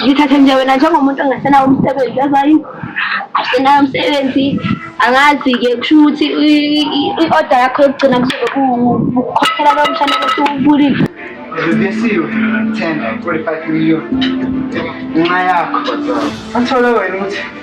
Ngithathe nje wena njengomuntu ongasenawo umsebenzi yazi awusenayo umsebenzi angazi-ke kusho ukuthi i-oda yakho yokugcina kuzobe kukhokhela lowo mshana ukuthi ubulile Reduziu 10, 45 million. Mai ako. Anțeoleu, nu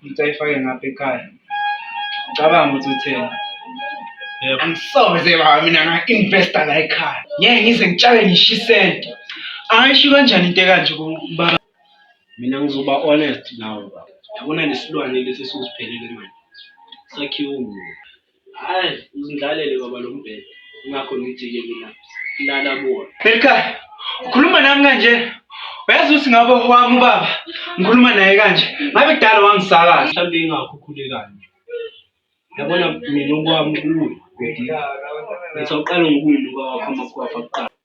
Ukuthi ayifake ngapha ekhaya. Cabanga ukuthi utheni. Yebo. Angisoze baba mina nga-investa la ekhaya. Ngeke ngize ngitshale ngisho isenti. Ayisho kanjani into ekanje kubaba? Mina ngizoba honest nawe baba. Yabona lesilwane lesi esiwusiphelele manje. Sakhiwe umuntu. Hayi uzindlalele baba lo mbhede. Ingakho ngithi-ke mina lala kuwona. Elikhaya ukhuluma nami kanje uyazi ukuthi ngabe wami ubaba ngikhuluma naye kanje ngabe kudala wangisakaza mhlawumbe ingakho ukhule kanje yabona mina okwami kuwe bhedi ngithi awuqale ngokuwunuka wakho amakhwapha kuqala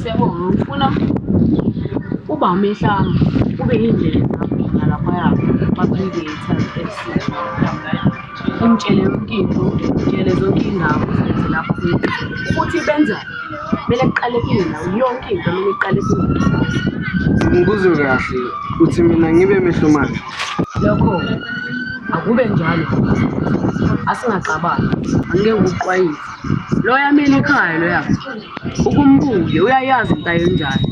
Siyabonga ngifuna uba umehlanga ube yindlela ezamina laphaya kwaPredators FC umtshele yonke into umtshele zonke iy'ndawo zenze lapho futhi benza kumele kuqale kuyena yonke into kumele iqale kuyena ngikuzwe kahle uthi mina ngibe mehlomane lokho akube njalo asingaxabani angeke ukuqwayise loya mina ekhaya loya ukumbuke uyayazi into ayenjani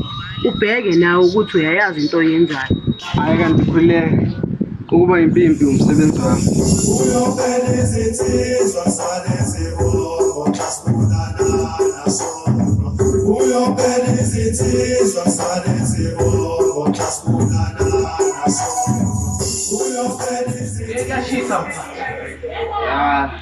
ubheke nawe ukuthi uyayazi into oyenjani hayi kanti khululeka ukuba impimpi umsebenzi wami uyophela izinsizwa salezibongo xa sibonana naso uyophela izinsizwa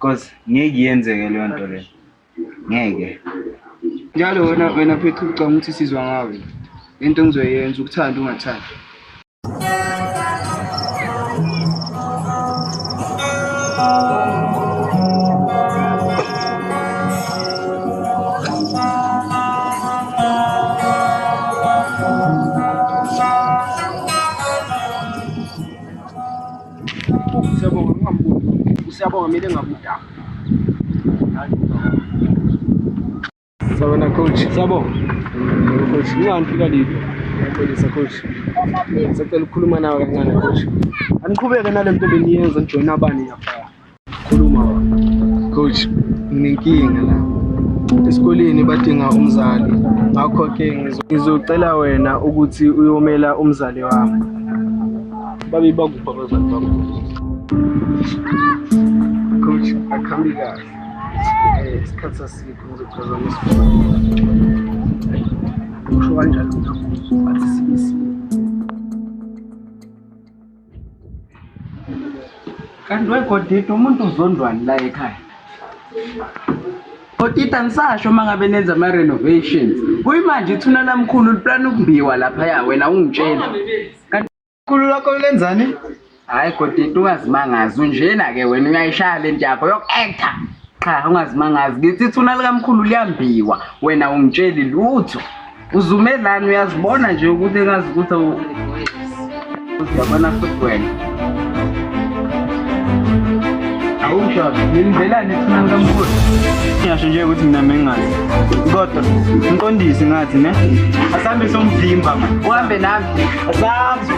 Cause ngeke yenzeke leyo nto leyo. Ngeke. Njalo wena wena phethu ucanga ukuthi sizwa ngawe. Into engizoyenza ukuthanda ungathanda. Siyabonga ungamboni. Siyabonga mina engakudaka. Sabona coach. Siyabonga. Coach, ngingangifika liphi? Ngiyapholisa coach. Sacela ukukhuluma nawe kancane coach. Aniqhubeke nale nto beniyenza nijoyina abani lapha. Khuluma coach, nginenkinga la esikoleni badinga umzali ngakho-ke ngizocela wena ukuthi uyomela umzali wami babe bakuphi abazali bakho coach akhambi kahle eh, isikhathi sasikho ngizophazamisa usho kanjalo but sibisi kanti wegodidi umuntu uzondwani la ekhaya Otita nisasho uma ngabe nenza ama-renovations kuyimanje ithuna lamkhulu liplana ukumbiwa laphaya wena ungitshela kanti khulu lakho lenzani hhayi godita ungazimangazi unjena-ke wena uyayishaya le nto yakho yoku-acta qha ungazimangazi ngithi ithuna likamkhulu liyambiwa wena ungitsheli lutho uzumelani uyazibona nje ukuthi engazi ukuthi uyabona futhi wena awushabi nilindzelani ethunani kamkhulu ngiyasho nje ukuthi mina mengazi kodwa mqondisi ngathi ne asambe somvimba ma uhambe nami asambe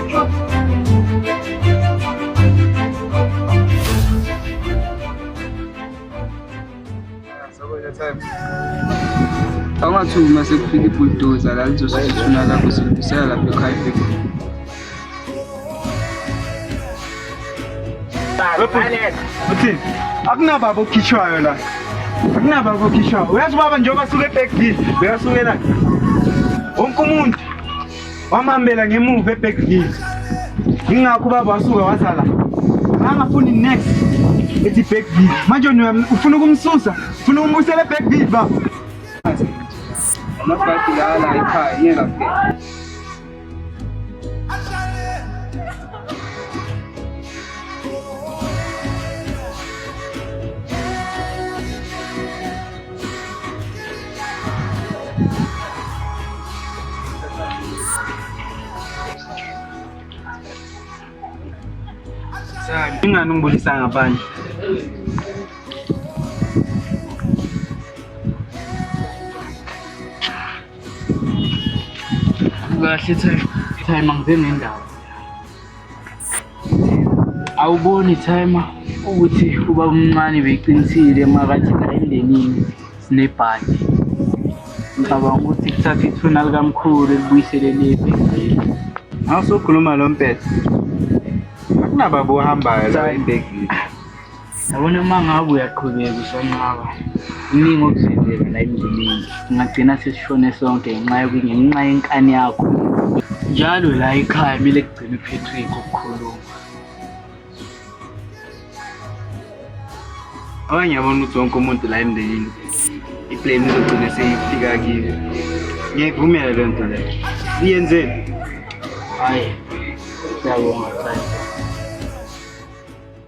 Angathi uma sekufika ibuldoza la lizosithuna lapho silungisela lapho ekhaya ifika. Uthini? Akunababa okhishwayo la. Akunababa okhishwayo. Uyazi ubaba njengoba suke ebhekile, uyasukela. Wonke umuntu wamhambela ngemuva ebackville yingakho ubaba wasuka waza la angafuni next ethi backville manje ufuna ukumsusa ufuna ukumbusela ebackville baba amabhadi lala ekhaya ngiyengafika Ingani ungibulisa ngaphandle? Kahle time time angizenendaba. awuboni timer ukuthi uba umncane beqinisile makathi la emndenini sinebhadi ngicabanga ukuthi kuthatha ithuna likamkhulu elibuyisele lepi ngawusukhuluma lo mpetha akunababa ohambayo la embhekile Yabona uma ngabe uyaqhubeka usonqaba iningi okuzenzeka la emndenini singagcina sesishone sonke ngenxa yokunye ngenxa yenkani yakho njalo la ekhaya kumele kugcine uphethwe yikho ukukhuluma abanye yabona ukuthi wonke umuntu la emndenini iplane izogcina seyifika kiyo ngiyayivumela le nto leyo iyenzeni hhayi siyabonga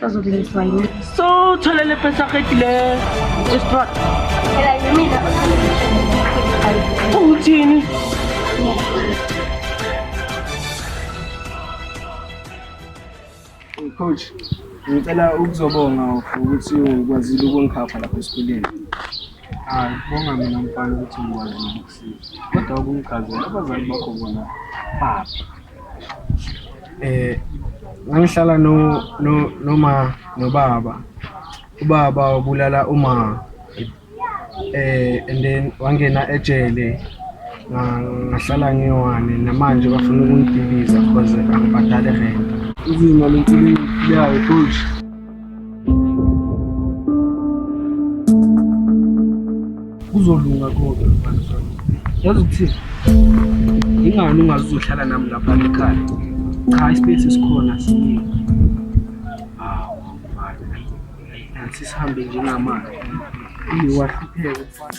Sazokulingiswa yini? So, thola le pesa qedile estrot. Phela yimina Uthini? Coach, ngicela ukuzobonga ukuthi ukwazile ukungikhapha lapha esikoleni. Hayi, bonga mina mfana ukuthi ngikwazile ukusiza. Kodwa ukungichazela abazali bakho bona baphi? eh ngangihlala no no noma nobaba ubaba wabulala uma eh and then wangena ejele ngahlala ngiwane namanje bafuna ukungidibiza because angibhadale rent izimo lentsini yayo futhi kuzolunga konke mfana zami yazi ukuthini ingani ungazi uzohlala nami lapha ekhaya cha ispace esikhona siningi hawu mfana sisihambe njengamanje iwahlupheke mfana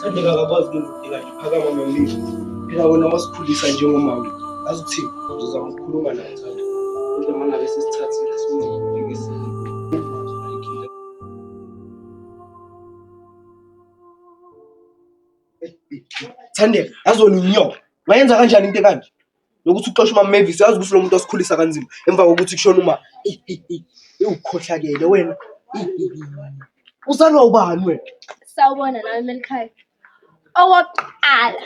Thandeka akakwazi ukwenza udinga nje phakama nomile. Phela wena wasikhulisa njengomama. Azi ukuthi uzozama ukukhuluma naye Thanda. Kodwa mangabe sesithathile simngekise. Thandeka, azona inyoka. Wayenza kanjani into ekanje? lokuthi uxoshe umama Mavis yazi ukuthi lo muntu wasikhulisa kanzima emva kokuthi kushona uma ukhohlakele wena uzalwa ubani wena sawubona nawe melikhaya owokuqala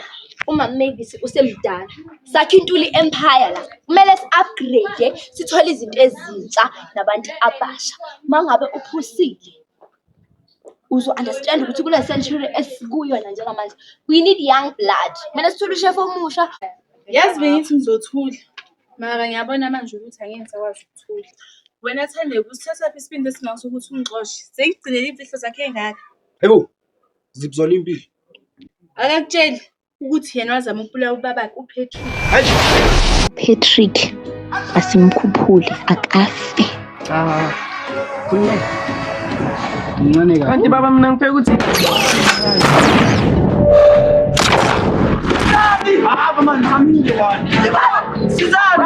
umama Mavis usemdala sakhe intuli empire la kumele si-upgrade sithole izinto ezintsha nabantu abasha mangabe uphusile uzo-understand-a ukuthi kule century esikuyona njengamanje we need young blood. Kumele sithole ushefu omusha. Yazi bengithi ngizothula mara ngiyabona manje ukuthi angeke ngisakwazi ukuthula. Wena Thandeka usithathaphi isibindi esingaso ukuthi ungixoshe? Sengigcinele iy'mfihlo zakhe ey'ngaka. Haibo, ziphi zona iy'mpilo? Akakutsheli. ukuthi yena wazama ukubulawa ubabakhe uPatrick. Patrick asimkhuphule akafe. Ah. Kunye. Mncane kakhulu. Kanti baba mina ngifeka ukuthi Baba man, hamile wani. Sizani.